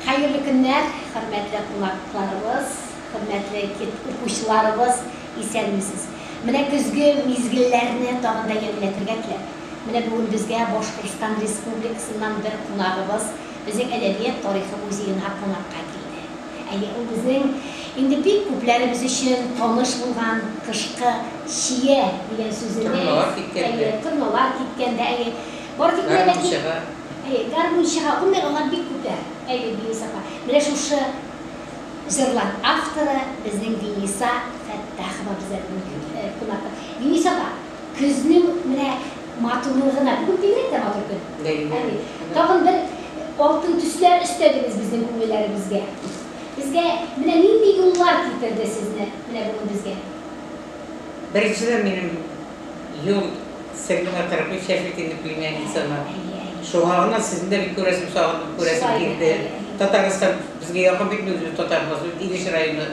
Хәерле көннәр, хөрмәтле кунакларыбыз, хөрмәтле кит укучыларыбыз, исәнмесез! Менә көзге мизгелләрне тагын да ямьләтергә теләп, менә бүген безгә Башкортстан Республикасыннан бер кунагыбыз безнең Әдәбият тарихы музеена кунакка килде. Әйе, ул безнең инде бик күпләребез өчен таныш булган кышкы чия дигән сүзенең, Торналар киткәндә. әйе, торналар киткәндә, әйе, бары тик менә Бәрәңге ләкин чыга. Әйе, гармунчыга гомер алар бик үтә. Әйе, Динис апа. Менә шушы җырлар авторы безнең Диниса Фәттахова бездә бүген кунакта. Динис апа, көзнең менә матурлыгына, бүген бигрәк тә матур көн. Әйе, тагын бер алтын төсләр өстәдегез безнең күңелләребезгә. Безгә менә нинди юллар китерде сезне менә бүген безгә? Беренчедән, минем юл сеңлемә 43 яшьлек инде племянницама. Шуңа гына сезне дә бик күрәсем, сагындым, күрәсем килде. Татарстан безгә якын бит, без үз татарыбыз, үз Илеш районы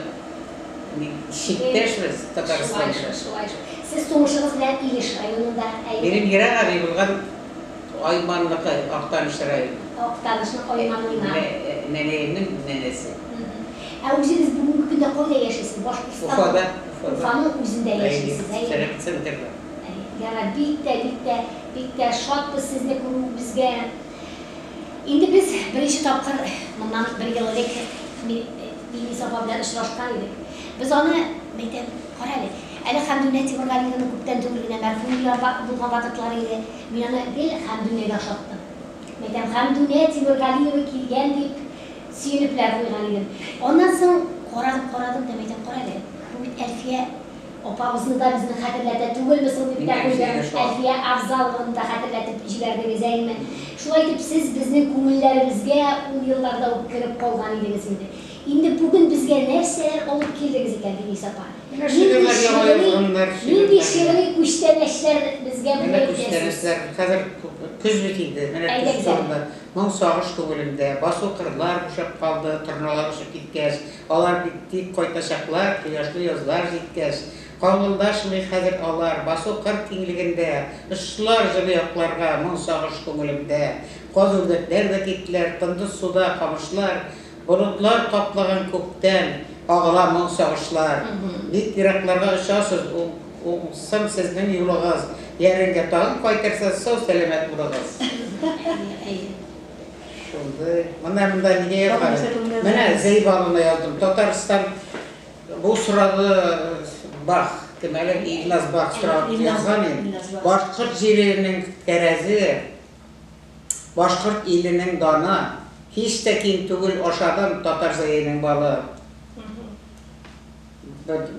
чиктәшбез Татарстан белән. Шулай шул, шулай шул. Сез тумышыгыз белән Илеш районында, әйе? Минем ерак әби булган Айманныкы, Актаныш районы. Актанышның Айманыннан. Нәнәемнең нәнәсе. Ә үзегез бүгенге көндә кайда яшисез? Башкортстан. Уфада, Уфада. Уфаның үзендә яшисез, әйе. Сәләт центрда. Ярар, бик тә, бик тә, бик тә шатбыз сезне күрүебезгә. Инде без беренче тапкыр моннан бер ел элек Миңниса апа белән очрашкан идек. Без аны, мин әйтәм, кара әле, әле Хәмдүнә Тимергалиевна күптән түгел генә мәрхүм булган вакытлары иде. Мин аны гел Хәмдүнәгә охшаттым. Мин әйтәм, Хәмдүнә Тимергалиева килгән дип, Сөенеп лә куйган идем. Аннан соң карадым, карадым да мәйтәм, карале, бу бит Әлфия апабызны да безне хәтерләтә түгелме соң дип тә куйдым. Әлфия Авзалованы да хәтерләтеп җибәрдегез, әйеме? Шулай итеп, сез безнең күңелләребезгә ул елларда ук кереп калган идегез инде. Инде бүген безгә нәрсәләр алып килдегез икән, Динис апа? Нинди шигъри күчтәнәчләр безгә бүген китерәсез? Әйдәгез әле. Моң сагыш күңелемдә. Басу кырлар бушап калды, Торналар очып киткәч. Алар бит тик кайтачаклар, Кояшлы язлар җиткәч. Каңгылдашмый хәзер алар, Басу кыр киңлегендә. Очтылар җылы якларга, Моң сагыш күңелемдә. Каз-үрдәкләр дә киттеләр, Тынды суда камышлар. Болытлар каплаган күктән агыла моң сагышлар Бик еракларга очасыз уңсын сезнең юлыгыз Яреңгә тагын кайтырсыз сау сәламәт булыгыз. Әйе, әйе. Шундый. Менә монда нигә язган? Менә Зәйбаловна яздым. Татарстан бу сорады Бах кем әле Илназ Бах сорап язган иде. Башкорт җиренең тәрәзе. Башкорт иленең даны, һич тә ким түгел Ашадым татар зәенең балы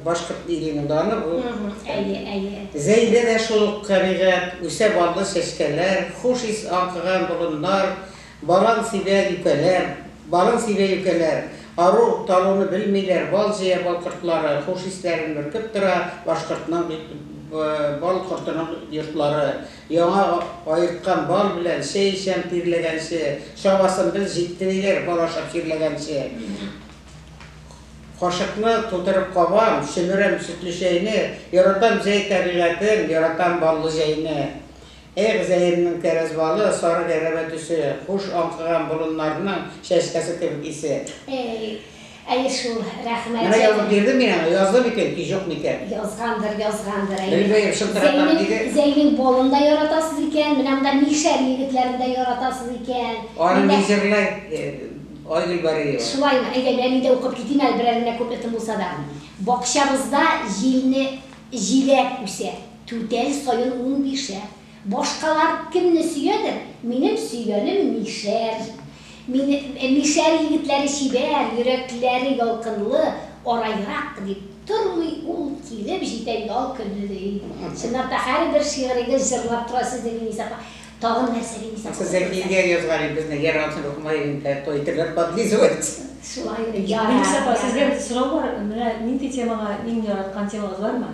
Башкорт иленең даны ул Әйе, әйе. Зәйдә дә шул ук кәбигать Үсә баллы чәчкәләр Хуш ис аңкыган болыннар Балан сибә юкәләр Балын сибә юкәләр Ару, талуны белмиләр Бал җыя бал кортлары Хуш исләрен бөркеп тора Башкортның бал кортының йортлары Яңа аерткан бал белән чәй эчәм тирләгәнче, чабасын без җитте диләр, бал ашап чирләгәнче. Кашыкны тутырып кабам, чөмерәм сөтле чәйне, яратам җәй табигатен, яратам баллы җәйне. Эх, җәемнең кәрәз балы, сары гәрәбә төсе, хуш аңкыган болыннарның чәчкәсе кебек исе. Әй. Әйе шул, рәхмәт. Менә язып бирдем мин аңа, язды микән ки, җук микән? Язгандыр, язгандыр, әйе. Белмәем, шылтыратам диде. Зәйнең балын да яратасыз икән, менә монда Мишәр егетләрен дә яратасыз икән. Аны ни җырлый Айгөл Бариева? Шулаймы, әйдә, нәни дә укып китим әле, берәр генә куплетым булса да. Бакчабызда җилне җиләк үсә, түтәл саен унбишәр. Башкалар кемне сөядер, минем сөйгәнем Мишәр. Мин, Мишәр егетләре чибәр, йөрәкләре ялкынлы, араерак, дип тормый ул, килеп җитә ял көне, ди. Чынлап та, һәрбер шигырегез җырлап тора сезне Ленис апа. Тагын нәрсә Ленис апа? Зәкигә язган инде безне, яр атын укымай идең дә, той итерләр подлизывать. Шулай, ярар. Ленис апа, сездән сорау бар, менә нинди темага, иң яраткан темагыз бармы?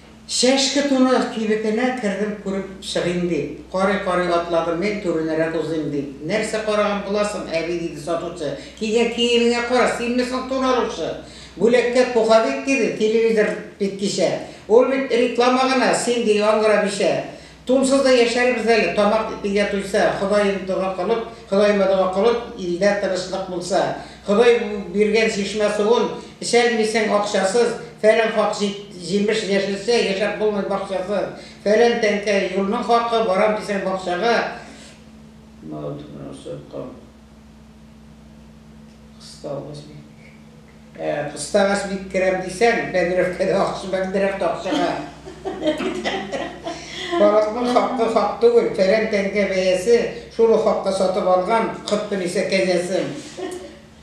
Чәшке туны кибетенә кердем күреп чыгыйм дип. Карый-карый атладым мин, түренәрәк узыйм дип. Нәрсә караган буласың, әби, диде сатучы. Кигән киемеңә кара, синме соң тун алучы? Бүләккә пуховик, диде, телевизор бит кичә. Ул бит реклама гына, син, ди, яңгыра бичә. Тунсыз да яшәрбез әле, тамак телгә туйса, Ходаем дога кылып, Ходаема дога кылып, илдә тынычлык булса. Ходай биргән чишмә суын эчәлмисең акчасыз, Фәлән хак җимеш яшелчә, яшәп булмый бакчасыз. Фәлән тәңкә юлның хакы, барам дисәң бакчага. Кыставыч бик Ә, кыставыч бик керәм дисәң, бәдрәфкәдә акча, бәдрәфтә акчага Халыкның хакы хак түгел, фәлән тәңкә бәясе, шул ук хакка сатып алган кырт пенисә кәҗәсен,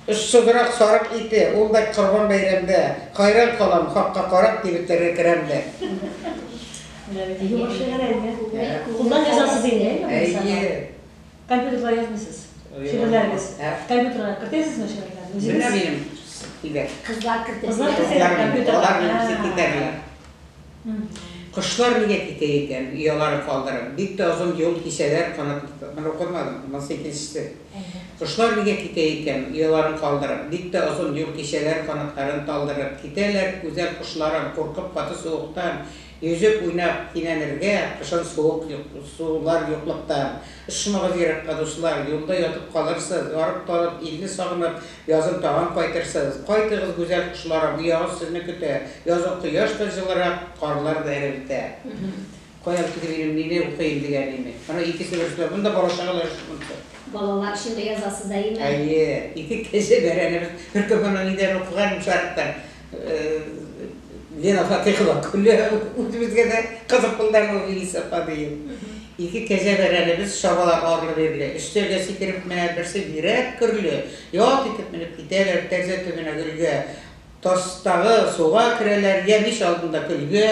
очсызрак сарык ите, ул да Корбан бәйрәмдә. Хайран калам, хакка карап, кибетләргә керәм дә. Йомышчы гәрәйне кулдан язасыз инде, әйеме, Гайса апа? Әйе. Компьютерга язмыйсыз? Шигырьләрегез. Компьютерга кертәсезме шигырьләрне? Менә минем китәр. Кызлар кертә. Кызлар кертә компьютерга. Алар минем китәрләр. Кошлар нигә китә икән, ояларын калдырып? Бик тә озын юл кисәләр, канат Моны укымадым, монысы икенчесе. Кошлар нигә китә икән, ояларын калдырып? Бик тә озын юл кисәләр, канатларын талдырып. Китәләр гүзәл кошларым, куркып каты суыктан, Йөзеп, уйнап, кинәнергә, Кышын суык сулар юклыктан. Очмагыз еракка, дуслар, Юлда ятып калырсыз, Арып-талып, илне сагынып, Язын тагын кайтырсыз. Кайтыгыз, гүзәл кошларым, Оягыз сезне көтә. Язын кояш та җылырак, Карлар да эрелтә. Кая китеп минем, нине укыйм ди әниме? Ана икесе бер Монда бала-чагалар өчен монсы. Балалар өчен дә язасыз әйеме? Әйе. Ике кәҗә бәрәнебез. Бер көн моны нидән укыган идем, шарыктан. Лена Фатихова күле үзебезгә дә кызык булды әле ул Илис апа диеп. Ике кәҗә бәрәнебез чабалар арлы-бирле. Өстәлгә сикереп менә, берсе бирәк көрле. Ялт итеп менеп китәләр, тәрзә төбенә гөлгә. Тастагы суга керәләр, йә мич алдында көлгә.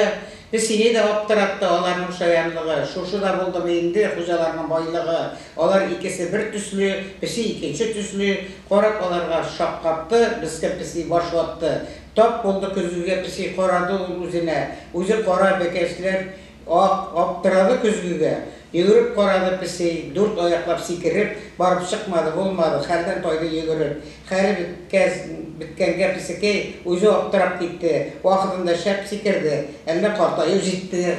Песине дә аптыратты аларның шаянлыгы. Шушы да булдымы инде хуҗаларның байлыгы? Алар икесе бер төсле, песи икенче төсле, карап аларга шаккатты, мескен песи баш ватты. Тап булды көзгегә песи, карады ул үзенә, үзе кара, бәкәчләр ак, аптырады көзгегә. Йөгереп карады песи, дүрт аяклап сикереп, барып чыкмады, булмады, хәлдән тайды йөгереп. Хәле беткәс, беткәнгә песекәй үзе аптырап китте, вакытында шәп сикерде, әллә картаю җитте.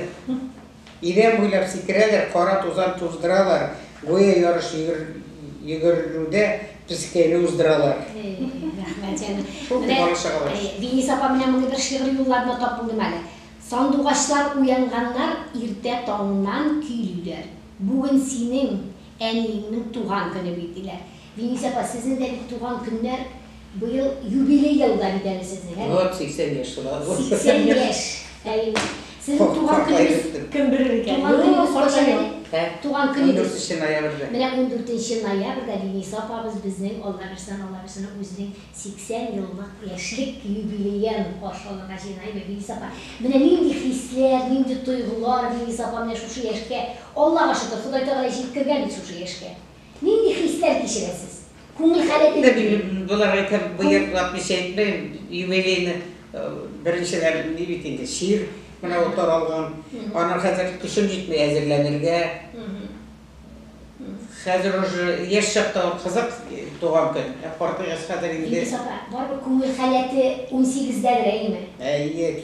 Идән буйлап сикерәләр, кара тузан туздыралар, гүя ярыш йөгерелүдә песпкәйне уздыралар. Менә Винис апа менә мондый бер шигъри юлларны тап булдым әле. Сандугачлар уянганнар иртә таңнан көйлиләр. Бүген синең әниеңнең туган көне бит, диләр. Винис апа, сезнең дә бит туган көннәр быел юбилей елда бит әле сезнең, әме? Вот 80 яшь тула бу. 80 яшь, әйе. Сезнең туган көнегез Кем белер икән. Туган көнегез кайчан иде? Ә? Туган көнегез. 14 нче ноябрьдә. Менә 14 нче ноябрьдә Винис апабыз безнең Алла бирсен, Алла бирсен, үзенең 80 еллык яшьлек юбилеен каршы алырга җыенаймы, Винис апа? Менә нинди хисләр, нинди тойгылар, Винис апа, менә шушы яшькә, Аллага шөкер, Ходай Тәгалә җиткергән бит шушы яшькә. Нинди хисләр кичерәсез? Күңел хәле бик Мин мөһим. боларга итеп боерык лапмыйча әйтмим, юбилейны беренчеләр ни бит инде, чир менә ул таралган. Аны хәзер көчем җитми әзерләнергә. Хәзер уже яшь чакта ул кызык туган көн, ә картайгач хәзер инде. Илгиз апа, барыбер күңел халәте унсигездәдер, әйеме? Әйе.